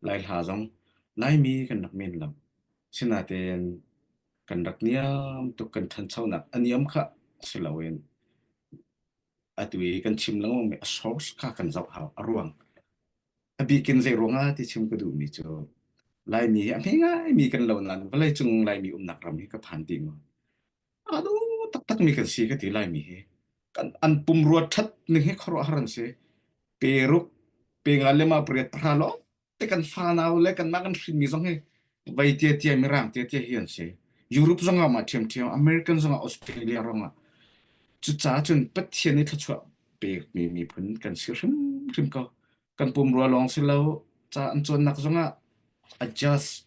Lai hla zong Laimi kan rak men lam. Sinatein kan rak niam tuk kan thanchonak a niam kha si loin atu i kan chim lengmang mi a source kha kan zoh hau a ruang. A bikin zei ruangah ti chim ka duhmi cu Laimi hi a hme ngai mi kan lo nain vawlei cung Laimi umnak ram hi ka phan ti maw? A duh taktakmi kan si ka ti Laimi hi. Kan an pumrua ṭhat ning hi khuaruahhar an si. Peruk, penga le ma pariat pahra lawng te kan fanau le kanmah kan hrinmi zong hi vai tiatia, mirang tiatia hi an si. Europe zongah mah ṭhiamṭhiam, American zongah, Australia rongah. Cucaah cun Pathian i thluachuah pekmi miphun kan si hrimhrim ko. Kan pumrua lawng si lo, ca an cawnnak zongah adjust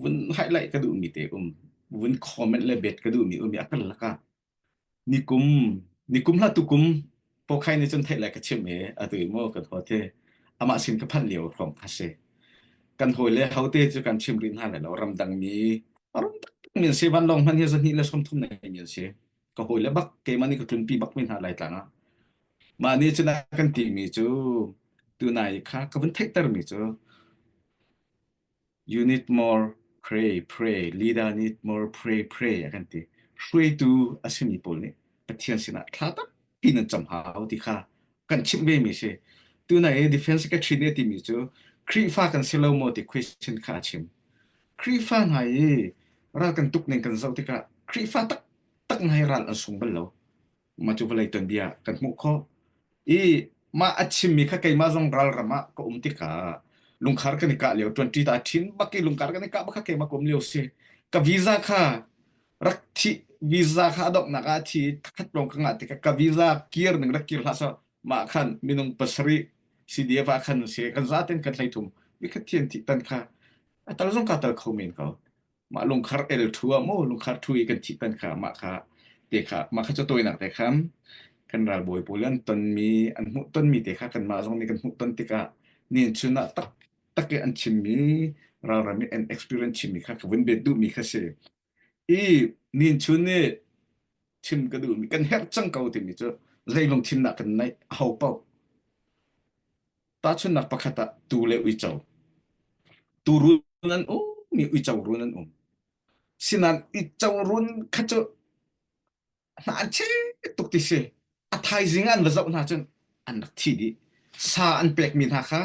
vun highlight ka duhmi te um vun comment le bet ka duhmi um ya kan laka nikum nikum hla tu kum pokhai ni chun thei lai ka chim e atu i mo kan ho te ama sin ka phan lio khom ka se kan hoi le hote chu kan chim rin ha le lo ramdang mi ramdang min se van long man hi zan hi le som thum nei min se ka hoi le bak ke mani ka tlun pi bak min ha lai tlanga ma ni chuna kan ti mi chu tu nai kha ka vun thei ter mi chu Unit mor phrei phrei, leader nih mor phrei phrei a kan ti. Hruaitu a simi pawl nih Pathian sinah thla tampi nan cam hau ti kha kan chimh vemi a si. Tuna i defense secretary nih a timi cu Khrihfa kan si lo maw ti question kha a chim. Khrihfa hna i ral kan tuk ning kan zoh tikah Khrihfa taktak ngai ral an sung bal lo. Mah cu vawlei tuanbia kan hmuh khawh. I mah a chimmi kha keimah zong ralram ah ka um tikah lungkhar kan i kah lio, ṭuanṭi ta ṭhin bak i lungkhar kan i kah bak kha keimah ka um lio a si. Ka visa kha rak thi visa kha a donghnak ah a thi i thakhat lawng ka ngah tikah ka visa kir ning rak kir hlah sawh mah khan minung pasarih CDF ah khan a si. Kan zaten kan hlei thum. Nikhat thian thih tan kha a tal zong kaa tal kho men ko. mah lungkhar el thu ah mu lungkhar thu i kan thi tan kha mah kha te kha mah kha chu tawinak te khan kan ralbawi pawl an ton mi an hmuh ton mi te kha kan mah zong nih kan hmuh ton tikah nin chun ah tak tak an chim mi ralram i an experience chim mi kha ka vun bet duh mi kha si i nin chun nih chim ka duh mi kan herh cang ko timi cu zeilung thim nak kan naih a ho pauh Tahchunhnak pakhat ah tuu le uico. Tuu run an um i uico run an um. Sinan uico run kha cu hna an che tuk ti si. A thaizing an va zoh hna cun an rak thi dih. Sa an pekmi hna kha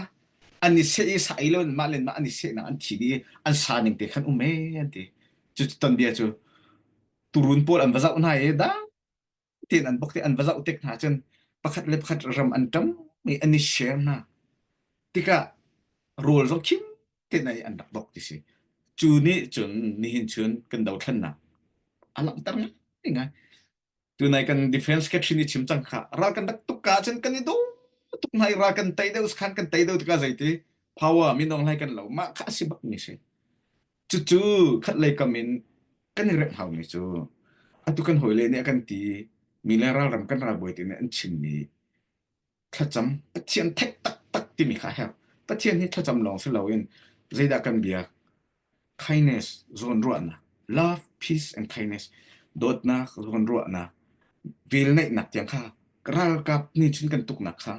an i seh i sa ei lo in mah le mah an i sehnak an thi dih i an sa ning te khan um e an ti. Cu tonbia cu turun pawl an va zoh hna i da tin an bok te an va zoh tik hna cun pakhat le pakhat ram an ṭam i an i share hna tikah rawl zo khim te nei an rak bok ti si cu ni cun nihin chun kan do thlannak a langhter ngai ngai tunai kan defense ke thin i chim cang kha ral kan rak tuk ka cun kan i do tuk nai ral kan tai deuh khan kan tai deuh tika zeiti power min ong lai kan lo ma kha si bak ni si Cucu khatlei kam in kan i remh haumi cu atu kan hawile nih a kan ti mi le ralram kan ralbawi te nih an chim mi thlacam Pathian theih taktak timi kha a herh. Pathian hi thlacam lawng si loin zeidah kan biak? Kindness zawnruahnak, love, peace and kindness dawtnak zawnruahnak velneihnak tiang kha ralkap nih cun kan tuknak kha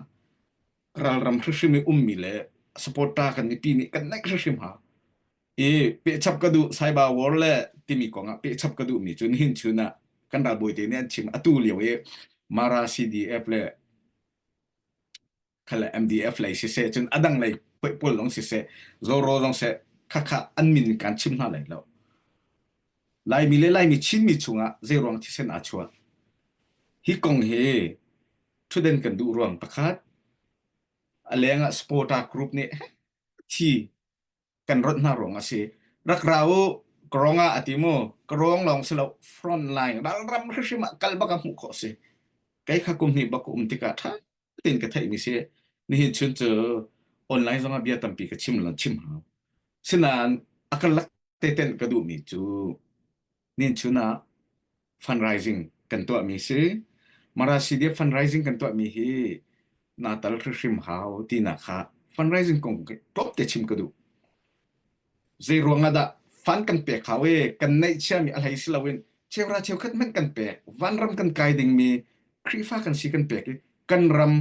ralram hrimhrim i ummi le supporter kan mipi nih kan naih hrimhrim hna i pehchap ka duh cyber war le timi kongah pehchap ka duhmi cu nihin chun ah kan ralbawi te nih an chim atu lio i mara CDF le khale MDF lei siseh cun adang lei pawl lawng siseh zoro lawng seh khakha an min kan chim hna lai lo laimi le laimi chinmi chungah zei ruang thisen a chuak hi kong hi thutden kan duh ruang pakhat a leng ah supporter group nih thi kan rot hna ruang a si rak ra u karong ah a ti mu karong lawng si lo front line ral ram hrim ah kal bak a hmuh khawh si kei kha kum hnih bak um tikah ṭha tein ka theih mi si nihin chun cu online zong ah bia tampi ka chim lo chim hau sinain a ka lak te ten ka duh mi cu Nichun ah fundraising kan tuahmi si. Marasidia fundraising kan tuahmi hi na tal hrim hau ti na kha fundraising kong top te chim ka duh. Zei ruangah dah fan kan pek hau e kan neih chiami a hlei si loin chewra cheukhat men kan pek van ram kan kai dingmi Krifa kan si kan pek i kan ram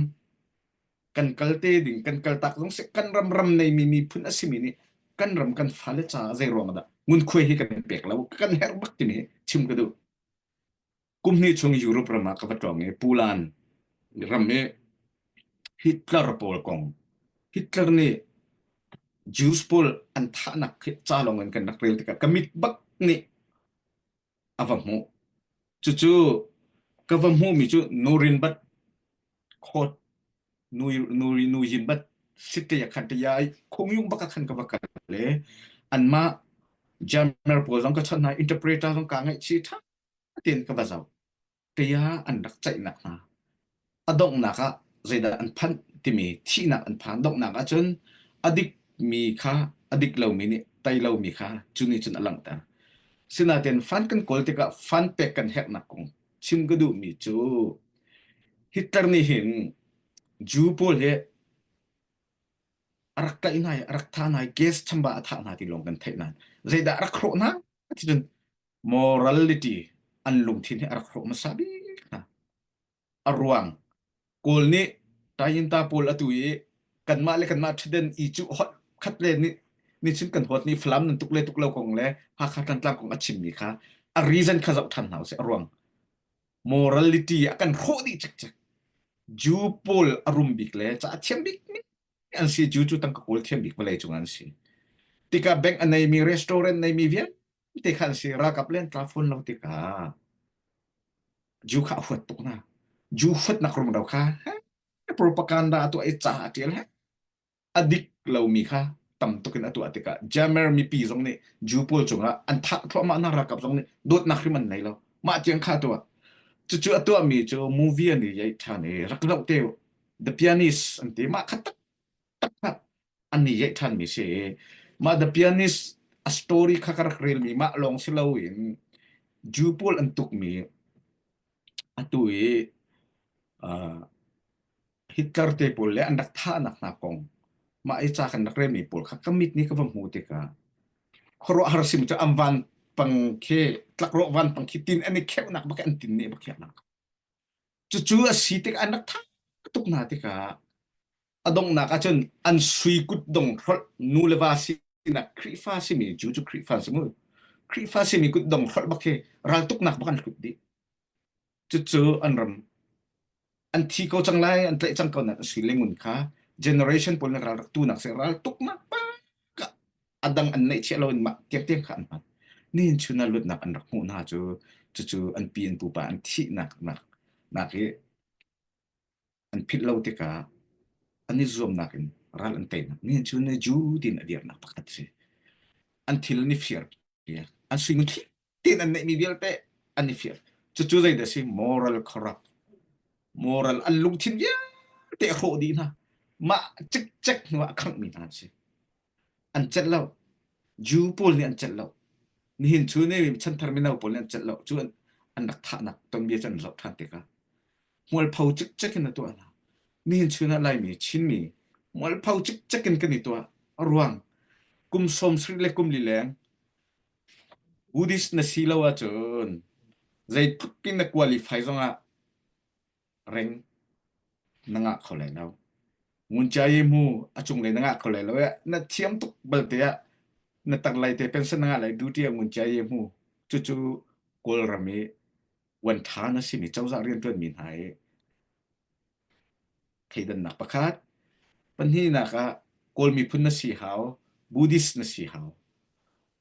kan kal te ding kan kal tak zong si kan ram ram nei mi miphun a simi nih kan ram kan fale caah zei ruang dah ngun khuai hi kan pek lo kan her bak timi hi chim ka duh kum hni chung Europe ram ah ka va tawng i Pulan ram i Hitler pawl kong Hitler nih Jews pawl an thahnak hi ca lawng in kan rak rel tikah ka mit bak nih a va hmuh. Cucu ka va hmuhmi cu nu rin bat khawt nu nu nu yin bat sit te ya khan te ya khung yung baka khan ka va kal le an ma jammer pawl zong ka chon hai interpreter zong ka ngai chi tha ten ka va zau kaya an rak ceihnak hna a donghnak ah zeidah an phanh timi thihnak an phan donghnak ahcun a dikmi kha a dik lomi nih tei lomi kha cu nih cun a langhter sinain fan kan kawl tikah fan pek kan herhnak kong chim ka duhmi cu Hitler nih hin Jew pawl hi a rak kaih hna i a rak tha hna i gas chambah a thah hna ti lawng kan theih nain zeidah a rak hrawh hna ti cun morality an lungthin hi a rak hrawh hmasa bik hna. A ruang Kawl nih Tayinta pawl atu i kanmah le kanmah ṭhaden i cu hot khat le nih ni chim kan huat ni Falam nan tuk le tuk lo kong le Hakha Thantlang kong a chimmi kha a reason kha zoh ṭhan hna usih a ruang morality a kan hrawh dih cikcek Jew pawl a rum bik le ca a thiam bik mi an si Jew cu tangka kawl thiam bik vawlei cung an si tikah bank a neimi restaurant neimi vialte Te khan si rakap len tla phone lo tika ju kha huat tuk na ju huat nak rum do kha propaganda tu ai cha tial he adik lomi kha tam tukin atu atika jamer mipi zong nih ju pawl cungah an thak thluahmah na rakap zong nih dot nak rim an nei lo mah tiang kha tu cu cu atu mi cu movie ani yai than i rak no te the pianist an ti ma khat tak tak an ni yeih ṭhan mi si i mah The Pianist a story kha ka rak relmi mah lawng si loin Jew pawl an tukmi atu i uh, Hitler te pawl le an rak thahnak hna kong mah i ca kan rak relmi pawl kha ka mit nih ka va hmu tikah khuaruahhar sim cu am van pang khi tlakrawh van pang khi tin an i kheuhnak bak an tin ne bak khiaknak cucu a si tik an rak thak tuk hna tikah a donghnak ah cun an sui kutdong hrolh nu le va sinak Khrihfa simi cu cu Khrihfa si mu Khrihfa simi kutdong hrolh bak hi raltuknak bak an hlut dih cucu an ram an thi ko cang lai an tlaih cang ko nak a sui lengun kha generation pawl na ralrak tu nak se raltuk nak pa adang an neih chiah lo in mah tiak tiang kha an hman nin chuna lutnak an rak hmu hna cu cucu an pi an pupa an thi nak nak nak hi an philh lo tikah an i zuamnak in ral an teinak nih cu ne Jew din a dirnak pakhat si an thil an i fir an suing thi tin an neihmi vialte an i fir cucu zei da si moral corrupt moral an lungthin vialte hrawh dih hna mah cikcek hnu ah khangh mi hna an si an celh lo. Jew pawl nih an celh lo. Nihin cu ne chanthar mino pawl nih an celh lo. Cu an, an rak thahnak tonbia cu an zoh ṭhan tikah mualpho cikcek in a tuah hna. Nihin chun ah Laimi, Chinmi, mualpho cikcek in kan i tuah. A ruang, kum sawm sarih le kum li leng Buddhist na si lo ahcun zeitluk in na qualify zongah ring na ngah kho lai lo. Nguncia i hmu a cunglei na ngah kho lai lo i na thiam tuk balte ah na tanglei te pension na ngah lai duty ah nguncia i hmu. Cucu Kawlram i wan ṭha na simi cozah rianṭuanmi hna i thleidannak pakhat. Pahnihnak ah Kawl miphun na si hau, Buddhist na si hau.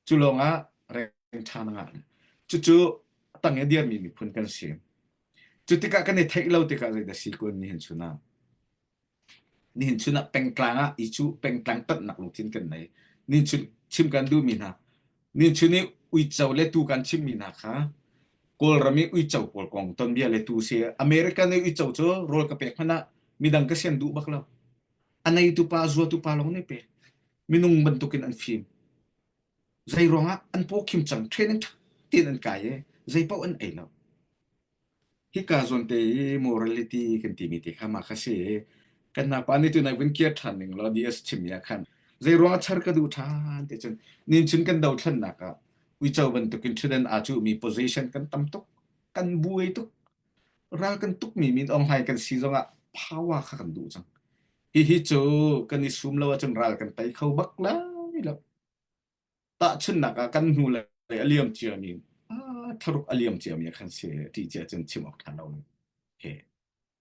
cu lawngah reng ṭha na ngah. Cucu a tang i a dirmi miphun kan si. Cu tikah kan i theih lo tikah zeidah si kun nihin chunah? Nihin chunah pengtlang ah i cu pengtlang tonnak lungthin kan nei. Nihin chun chim kan duhmi hna, nihin chun i uico le tu kan chimmi hna kha Kawlram i uico pawl kong tonbia le tu si. American i uico cu rawl ka pek hmanh ah midang ka sian duh bak lo. A neitu pa, zuatu pa lawng nih pek. minung bantuk in an fim zei ruangah an pawkhim cang training tha tein an kai i zeipaoh an ei lo hika zawn te i morality kan ti mi te kha ma kha si kan na pa nih tu nak vin kia than ning lo ds chim ya khan zei ruangah char ka du than te chen nin chin kan do thlan nak a uicho bantuk in thiden a chu mi position kan tam tuk kan buai tuk ral kan tuk mi min ong hai kan si zongah power kha kan du chang Hihi cu kan i sum lo ahcun ral kan tei kho bak lai lo. Tahchunhnak ah kan hnu lei a liam ciami ah tharuk a liam ciami ah khan si ti cia cun chim awk tha lo. Okay.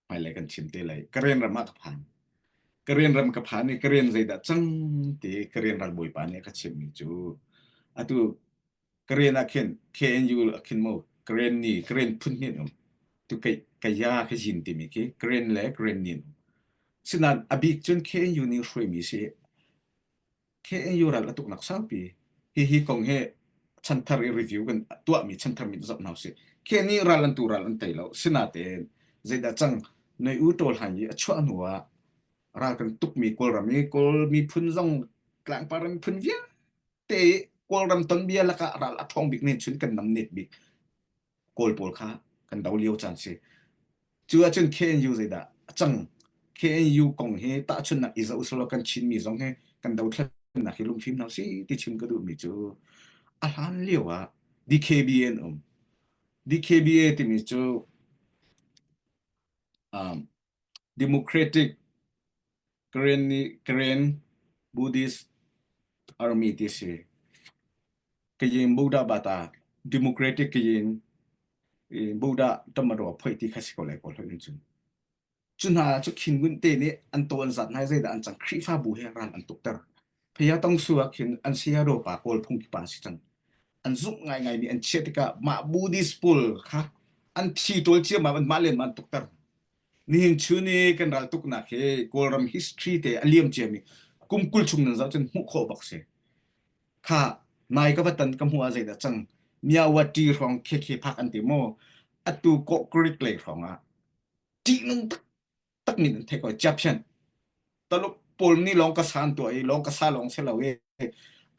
Hmailei kan chim te lei Karen ram ah ka phan. Karen ram ka phan i Karen zeidah cang ti Karen ralbawi pa nih a ka chimhmi cu atu Korean ah khin KNU a khin mu Korean ni Korean phun hni um tu kei kaya ka jin timi khi Korean le Korean ni um sinan abik cun KNU nih hruai mi si KNU ral atuk nak saupi hi hi kong he chanthar i review kan tuah mi chanthar mi zop hau si ke ni ral an tu ral an tei lo sinaten zeida chang noi u tol han i achuah hnu ah ral kan tuk mi kawl ram i kawl mi phun zong tlangpar in phun via te kawlram tonbia lakah ral a ṭhawng bik nen chun kan nam net bik kawl pawl kha kan do lio chan si cu ahcun KNU zeidah a cang KNU kong hi tahchun nak iza usalo kan chinmi zong hi kan do thlennak hi lungfim hna si ti chim ka duhmi cu a hlan lio ah DKBN um DKBA timi cu um, Democratic Karen nih Karen Buddhist army ti a si. Kayin Buddha ba ta democratic Kayin Buddha tamaro phoi ti kha si ko lai ko hlun cun. Cu hna cu khin gun te nih an to an zat nai zeidah an cang Khrihfabu he ral an tuk ter. Hiya tong su ah khin an saya ropa pawl phungki pa si cang. An zung ngaingai mi an chiah tikah mah Buddhist pawl kha an thi ṭol ciam ah mah len man tukter. Nihin chu ni kan ral tuknak hi Kawlram history te a liam cia mi kum kul chung nan zau cun hmuh khawh bak si. Kha nai ka vatan ka hmu a zei da cang. Miawati hrawng khekhe phak an ti mo. Atu ko Greek lei hrawng ah ṭihnung tak takmin an thek ko Egyptian taluk pol ni long ka san to i long ka sa long se lo e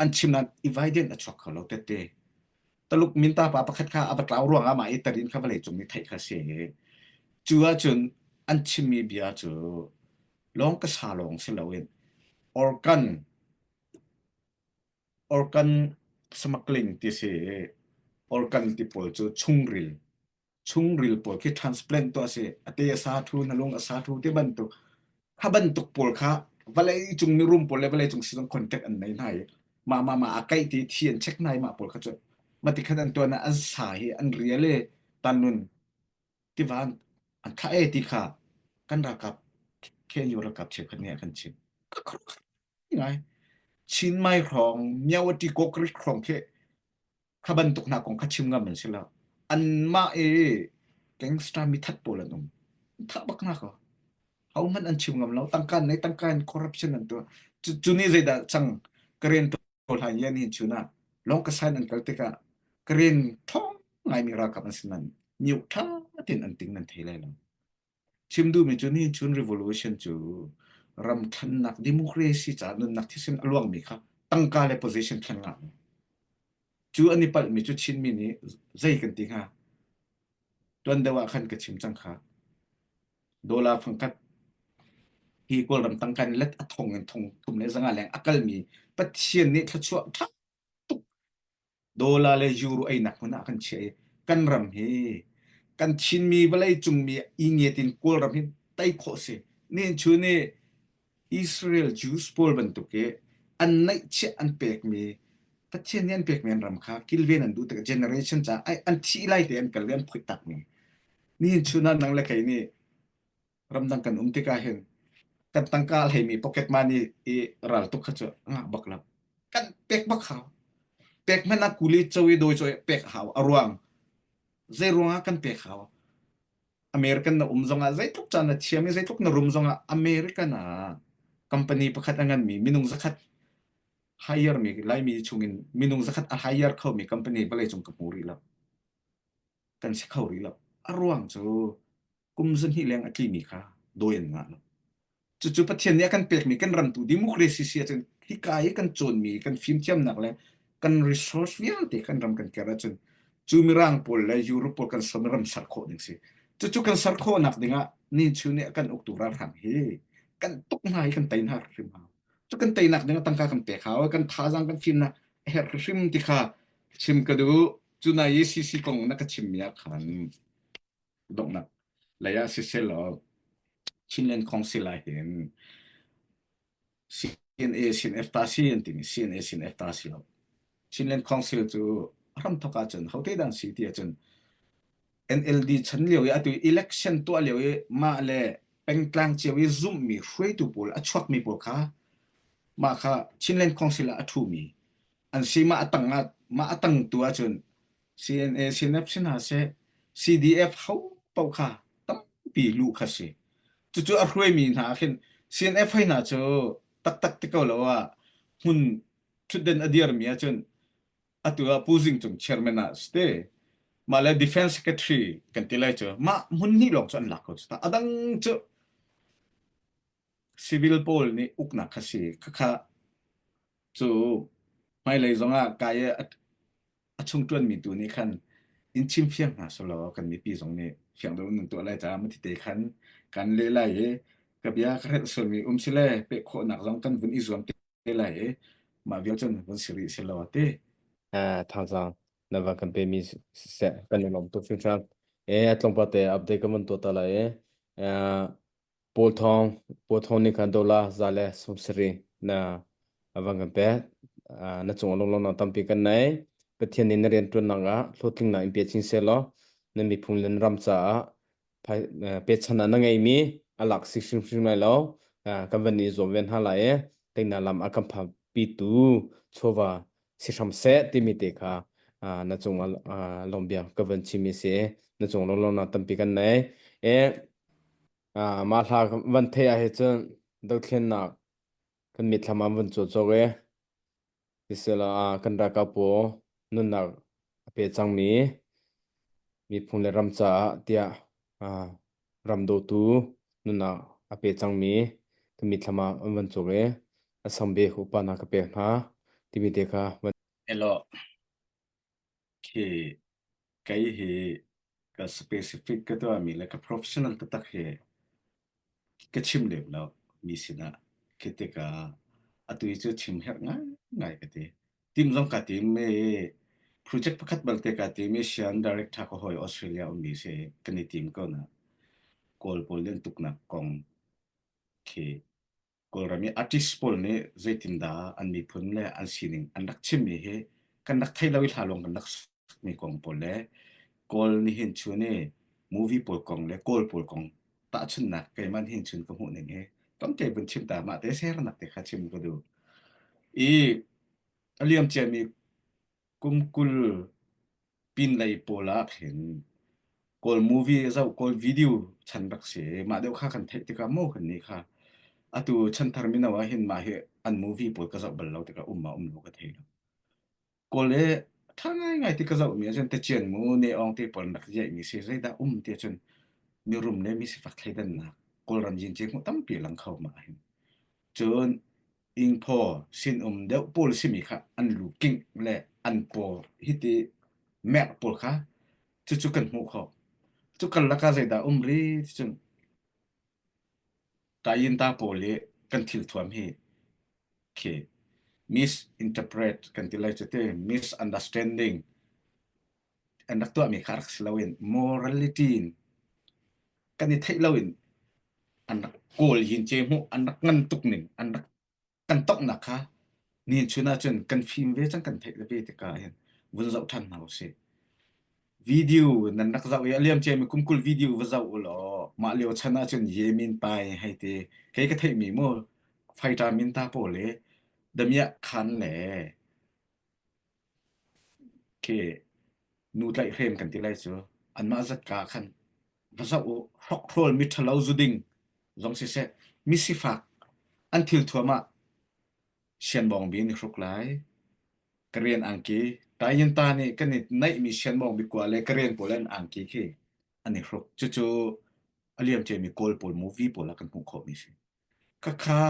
an chim nan inviden a chok kho lo tete taluk minta pa pakhat kha ava tlau ruanga ma itarin kha vale chung ni thei kha se chu a chun an chimmi bia chu long ka sa long se lo in organ organ smuggling ti si organ ti pol chu chungril chungril pawl khi transplant tu asi ate asa thu nalung asa thu te bantuk kha bantuk pawl kha vale cung ni room pawl le vale cung si contact an nei nai ma ma ma akai ti thi an check nai ma pawl kha chu mati khan an tuana an sa hi an riale tanun tivan an tha e ti kha kan rakap khe yo rakap che khan ne kan chin ngai chin mai rong myawa ti kokri krong khe kha bantuk hna kong kha chim ngam an si lo anmah i gangster mithat pawl an um tha bak na ko ho hmanh an chim ngam lo tangka nei tangka in corruption an tu cu ni zeidah chang karen to hlai yan hin chuna long ka sign an kal tika karen thong ngai mi ra kam asinan niu tha tin an ting nan thei lai lo Chim duhmi cu nihin chun revolution cu ram thannak democracy caah nunnak thisen a luangmi kha tangka le position thlen ngak cu an i palhmi cu Chinmi nih zei kan ti hnga tuan deuh ah khan ka chim cang kha dola fangkhat hi kawlram tangka in let a thong in thong thum le zanga leng a kalmi Pathian nih thluachuah ṭha tuk Dollar le euro einak hmun ah kan chiah i kan ram hi kan Chinmi vawlei cungmi ingiat in Kawlram hi tei khawh si. Nihnchu ni Israel Jews pawl bantuk i an neihchiah an pekmi Pathian nih an pekmi an ram kha kilven an duh tikah generation caah ai an thih lai te an kal i an phoih takmi. Nihin chun ah nang le kei nih ramdang kan um tikah hin kan tangka a hleimi pocket money i raltuk kha cu ngak bak lo kan pek bak hau pek hmanh ah kuli cho i dawi cho i pek hau a ruang zei ruangah kan pek hau American na um zongah zeitluk caan na thiam i zeitluk na rum zongah American ah company pakhat a nganmi minung zakhat hire mi laimi chungin minung zakhat a hire khomi company vawlei cung ka hmu rih lo kan si kho rih lo a ruang cu kum zahnih leng a tlimi kha dawi an ngah lo. Cucu Pathian nih a kan pekmi kan ramtu democracy si ahcun hika i kan cawnmi kan fimthiamnak le kan resource vialte kan ram kan kir ahcun cu mirang pawl le Europe pawl kan som i ram ser khawh ding si. Cucu kan ser khawhnak dingah nichu nih a kan uktu ralhrang hi kan tuk hna i kan tei hna hrim hau. Cu kan teinak dingah tangka kan pek hau, kan thazaang kan fim hna a herh hrim ti kha chim ka duh. Cuna i CC kong na ka chimmi ah khan donghnak lei ah sisel law Chinland Council ah hin CNA CNF ta si an timi CNA CNF ta si lo Chinland Council cu ram thok ah cun hote dang si ti ahcun NLD chan lio i atu election tuah lio i mah le pengtlang cio i zumhmi hruaitu pawl a chuakmi pawl kha mah kha Chinland Council ah a ṭhumi an si mah a tang ah mah a tang tu ahcun CNA CNF si hna seh, CDF hopaoh kha tampi luh kha si. Cucu a hruaimi hna ah khin CNF hoi hna cu taktak ti ko lo ah hmun thutden a dirmi ahcun atu ah Pu Zing Cung chairman ah si te, mah le defense secretary kan ti lai cu, mah hmun hnih lawng cu an lak ko cu ta. A dang cu Civil pawl nih uknak kha si. Khakha cu hmailei zongah kai i a, a chung ṭuanmi tu nih khan in chimfiang hna selaw kan mipi zong nih fiang deuh in nan tuah lai caah mati te khan kan leh lai i ka bia ka hrelh sualmi um sile peh khawhnak zong kan vun i zuam te lai i mah vial cun vun si rih selaw a ti. Ah thazang na van kan pe mi seh kan i lawm tuk hringhran. E tlawmpal te update kan van tuah ta lai i Paul thawng Paul thawng nih khan dola za le sum sarin na a van kan pek. Ah, na cung lunglawm na tampi kan nei. Pathian nih na rianṭuannak ah hlawhthlingnak in pe chin seh law na miphung le na ram caah phai- eh, pechan ah na ngeimi a lak si hrimhrim lai lo. Ah, kan van i zuam ve hna lai i teinak lam a kan phapitu chawva si hram seh timi te kha ah, na cungah ah, lawmbia ka van chimi si na cung lo lo na tampi kan nei e ah, mah hla van thei ah he cun dothlennak kan mitthlam ah van cu chok e tisela ah, kan ra ka pu nunnak a pe cangmi miphun le ram caah tiah ah, Ram dawtu nunnak a pe cangmi ka mitthlam ah an van cuk i a sangbik upa hna ka pek hna timi te kha van elaw khi kei hi ka specific ka tuahmi le ka professional taktak hi ka chim lem lo mi sinah khi tikah atu hi cu chim herh ngaingai ka ti. timzong ka tim i project pakhat balte ka tim Asian director ko hoi Australia ummi si kan i tim ko na kawl pawl len tuknak kong khi Kawlram i artist pawl nih zeitindah an miphun le an sining an rak chimmi hi kan rak thei lo i hla lawng kan rak mi kong pawl le Kawl nih hin chun i movie pawl kong le Kawl pawl kong tahchunnak keiman hin chun ka hmuh ning hi tamte vun chim ta mah te sernak te kha chim ka du i a liam ciami kum kul pin lei pawl ah khin Kawl movie zau Kawl video chan rak si mah deuh kha kan theih tikah mo kan ni kha atu chan thar mino ah hin mah hi an movie pawl ka zau bal lo tikah um ma um lo ka thei lo Kawl i ṭha ngaingai ti ka zohmi ahcun techian mu ne-ong te pawl rak yeihmi si zeidah um ti ahcun mirum le misifak thleidannak Kawlram zincin hmuh tampi a lang kho ma ahhin. Cun ingphaw sinum deuh pawl simi kha an lu kingh le an paw hiti merh pawl kha cucu kan hmuh kho. Cu karlak ah zeidah um ri ticun Taiyinta pawl hi kan thilthuam hi khi misinterpret kan ti lai cete misunderstanding an rak tuahmi kha rak si loin morality in kan i theih loin an rak kawl yin ce hmuh an rak ngan tuk ning an rak kan toknak kha nihin chun ah cun kan fim ve cang kan theih le ve tikah hin vun zoh ṭhan hna usih video nan rak zoh i a liam ciami kumkul video va zoh u law mah lio chan ah cun yemin pai hei te kei ka theihmi mu faita min ta pawl le damiah khan le Ke nu tlaihhrem kan ti lai cu. Anmah zatka ah khan va zoh u, hrokhrol miṭhalo zu ding zong siseh, misifak an thil thuam ah sianmawng bi an i hruk lai. Ka rian angki, taingyanta nih kan i naihmi sianmawng biakua le ka rian pawl an angki khi an i hruk. Cucu a liamciami Kawl pawl, movie pawl ah kan hmuh khawhmi a si. Khakha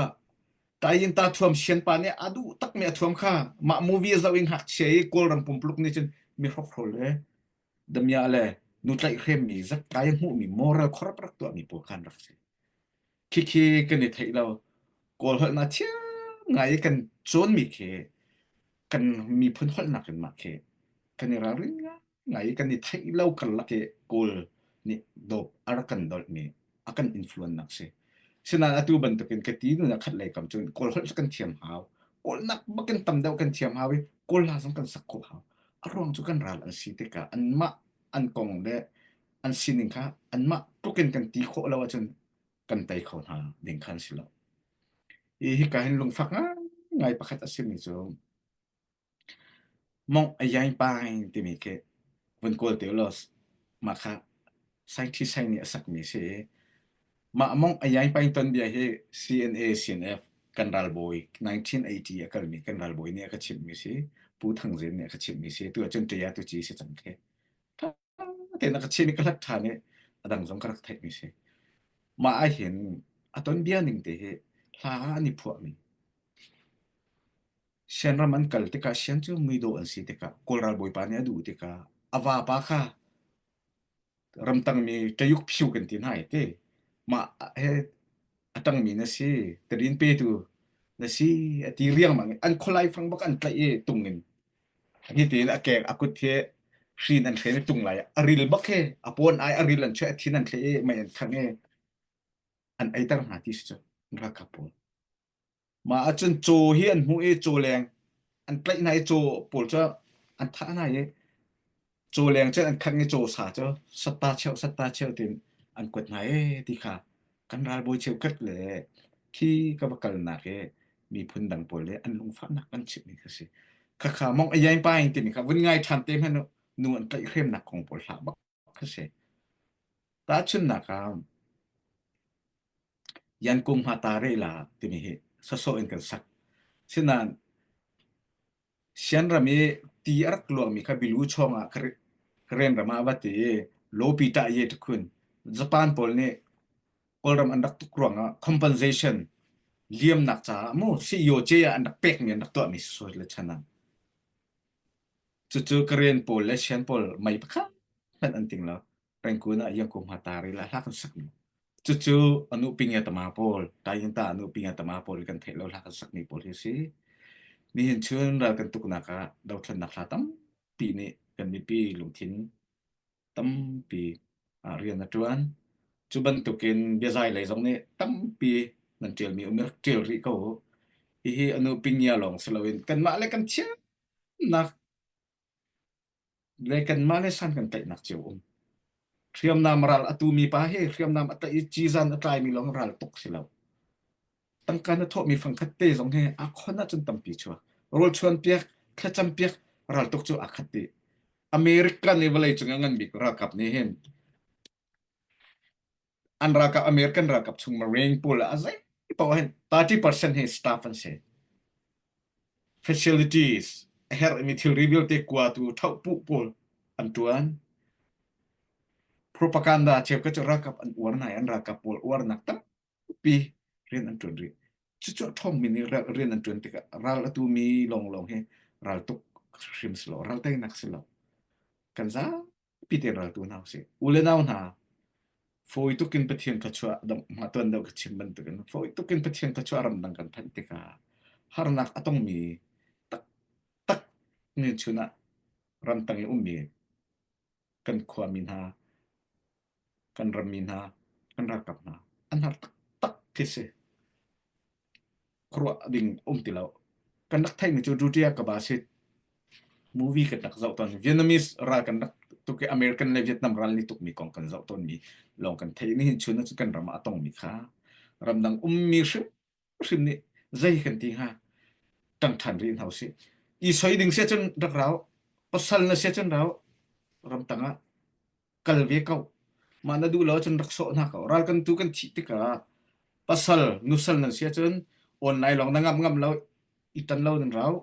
taiin ta thuam sian pa nih a duh takmi a thuam kha mah movie a zoh i ngakchia i kawlrang pumpuluk nih cun mi hrokhrol le damiah le nu tlaihhremmi zat kai a hmuhmi moral khorap rak tuahmi pawl kha an rak si. Khikhi kan i theih lo. Kawl holhnak thiam ngai i kan cawnmi khi kan miphun holhnak in mah khi kan i ralrin ngai. ngai kan i theih lo karlak i Kawl nih dawp a rak kan dolhmi a kan influence nak si. Sinan atu bantukin ka ti nu na khat lei kam cun Kawl holh kan thiam hau. Kawl nak bakin tam deuh kan thiam hau i Kawl la zong kan sak kol hau. A ruang cu kan ral an si tikah an mah an kong le an sining kha an mah tlukin kan ti khawh lo ahcun kan tei kho hna ding khan si lo. I hi ka hin lungfak ngai pakhat a simi cu Mawngh a iai pang timi khi vun kawl te ulaw mah kha scientist nih a sakmi a si i mah mawngh a iai pang tonbia hi CNA CNF kan ralbawi 1980 a kalmi kan ralbawi nih a ka chimhmi a si. Pu Thang Zin nih a ka chimhmi a si. Atu ahcun ṭiah tu ci a si cang khi. tein a ka chin i ka hlat ṭhan i a dang zong ka rak theihmi si. Mah ahhin a ton bia ning te hi hla an i phuahmi Sianram an kal tikah Sian cu muidawh an si tikah Kawlral Bawipa nih a duh tikah a vapa kha ramtangmi ṭayuk phyu kan ti hna i te mah he a ṭangmi na si talin petu na si a ti riangmang i an khualai fang bak an tlaih i tung in Nitin a kek a kut hi hrin an thlen i tung lai a ril bak hi a pawn ai a ril an chuah a thin an thlen i mei an khang i an eiter hna ti si cu ralkap pawl. Ma ahcun caw hi an hmuh i caw leng an tlaih hna i caw pawl cu an thah hna i Cawleng cu an khat nge cawsa cu satta cheu satta cheu tiin an kuat hna ee ti kha kan ralbawi cheukhat le khi ka va kalnak i miphun dang pawl le an lungfahnak kan chimhmi kha si. Khakha mong ayai pa in timi kha vun ngai ṭhan te hmanh u nu an tlaihhremnak kong pawl hlah bak kha si. Tahchunhnak ah Yankung Hma Ta Re La timi hi sawsawh in kan sak. Sinain Sianram i ti a rak luangmi kha bilu chawngah Karen ram ah a va ti i lawpi ṭah ye ṭha khun. Japan pawl nih Kawlram an rak tuk ruangah compensation liamnak caah mu Sihyoce ah an rak pekmi an rak tuahmi sisawit le chan ah. Cucu Karen pawl le Sian pawl mei pakhat hmanh an ting lo. Rangoon ah hiang kum ha tar ila hla kan sak cucu anu pinge tama pawl tai hin ta anu pinge tama pawl kan thei lo hla kan sak ni pawl hi si nihin chun ral kan tuknak ah dothlannak hla tampi nih kan mipi lungthin tampi ah rian a tuan cu bantukin biazai lei zong nih tampi nan tialmi um rak tial rih ko hihi anu pingia lawng si loin kanmah le kan thiamnak Le kanmah le san kan tlaihnak cio um. Hriamnam ral a tu mi pa he hriamnam a tlaih i cizan a tlai mi lawng ral tuk si lo. Tangka na thawh mi fangkhat te zong he a khon ah cun tampi chua. Rol chuan piak, thlacam piak, ral tuk cu a khat i. America le vawlei cung a ngan bik ralkap nih hin an ralkap American ralkap chung Marine pawl a zei paoh hin 30% hi staff an si facilities a herhmi thilri vialte kuatu thopu pawl an tuan propaganda cheuka cu ralkap an uar nai an ralkap pawl uarnak tampi rian an tuan rih cucu thong min i rian an tuan tikah ral atu mi lawnglawng hi ral tuk hrim si lo ral teinak si lo kan za piteral tu hna usih. U le nau hna, fawi tuk in Pathian thluachuah mah tuan deuh ka chim bantukin fawi tuk in Pathian thluachuah ramdang kan phanh tikah harnak a tongmi taktak min chun ah ramtang i ummi kan khuami hna, kan rammi hna, kan ralkap hna an har taktak khi si. a ruah ding um ti lo. Kan rak theihmi cu Rutia Kabasit movie kan rak zoh tawn. Vietnamese ral kan rak tuk i American le Vietnam ral ni tukmi kong kan zoh tawnmi lawng kan theih. Nihin chun cu kan ram ah a tongmi kha ramdang ummi hrimhrim nih zei kan ti hnga ṭang ṭhan rih hna usih. I soi ding sia cun rak rau. Pasal na sia cun rau. Ramtang ah kal ve ko mah na duh lo cun rak sawh hna ko ral kan tu kan thih tikah pasal nusal nan si cun online lawng na ngam ngam lo i tan lo nan rau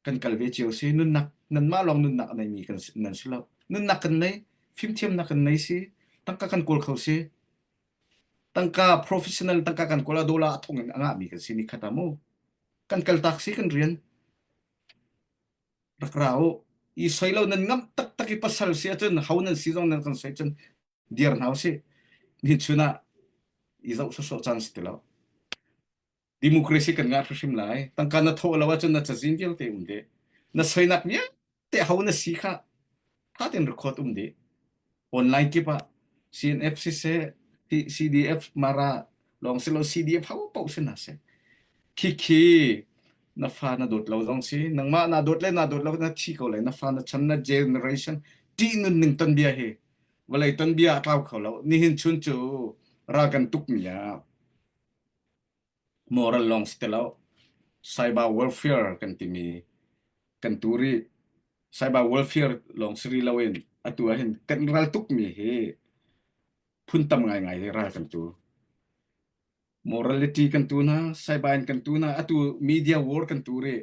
kan kal ve cio si nunnak nanmah lawng nunnak a neimi kan nan si lo nunnak kan nei fimthiam nak kan nei si tangka kan kawl kho si tangka professional tangka kan kola dola thong in anga mi kan si ni khata mu kan kal tak si kan rian rak ra u i soi lo nan ngamh taktak i pasal si ahcun ho nan si zong nan kan soi cun dir hna u si ni chun ah i zoh sawsawh caan si ti lo democracy kan ngah hrim lai tangka na thawh lo ahcun na cazin vialte um de na soinak vialte ho na si kha khatin record um dih online kip ah CNF siseh CDF mara lawng si lo CDF hau pauh si na se khikhi na fa na dawt lo zong si nangmah na dawt le na dawt lo na thi ko le na fa na chan na generation ti nun ning ton bia hi vale ton bia tlau kho lo nihin chun cu ra kan tuk mi ah moral lawng si ti lo. Cyber welfare kan timi kan tu rih. Cyber welfare lawng si rih lo in atu ahhin kan ral tukmi hi phun tam ngaingai hi ral kan tu. Morality kan tu hna, cyber in kan tu hna, atu media war kan tu rih.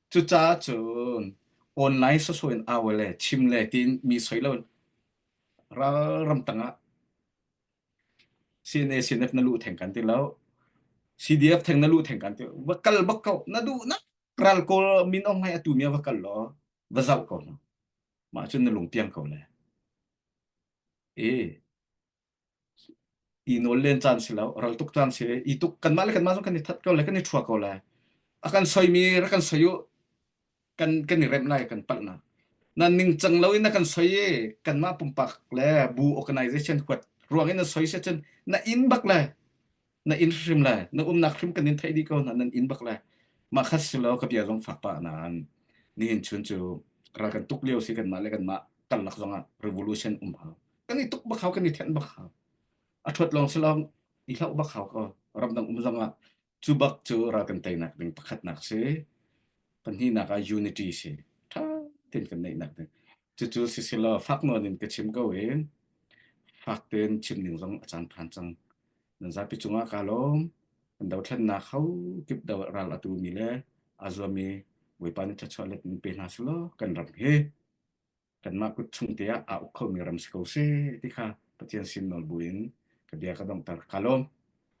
Cucaah cun online soso in au le chim le tiin mi soi lo ralram tangah CNA CNF na luh theng kan ti lo CDF theng na luh theng kan ti va kal bak ko na duh na ral kawl min ong hai atu mia va kal lo va zau ko mah cun na lung piang ko le e i nawl len caan si lo ral tuk caan si i tuk kanmah le kanmah zong kan i that ko le kan i thua ko le a kan soimi ra kan soi u kan kan i rem lai kan palhnak na ningcang lo in na kan soi i kanmah pumpak le bu organization huat ruang in na soi se cun na in bak le na in hrim le na umnak hrim kan in theih dih ko na nan in bak le mah khat si lo ka bia zong fak pa nan nihin chun cu ral kan tuk lio si kan mah le kan mah karlak zong ah revolution um ha kan i tuk bak hau kan i then bak hau a thot long si long i hlau bak hau ko ramdang um zong ah cu bak cu ral kan tei nak ding pakhat nak si pan hi nak a unity si tha tin kan nei nak ding cu cu si si lo fak no nin ka chim ko in fak ten chim ning zong a chan than chang nan zapi cungah kaa lawm an dothlennak hau kip do ral atu mi le a zuami Bawipa nih thluachuah let in pe hna selaw kan ram hi kanmah kut chungte ah a uk khomi ram si ko seh ti kha Pathian sin nawl buin ka bia ka dongter ka lawm.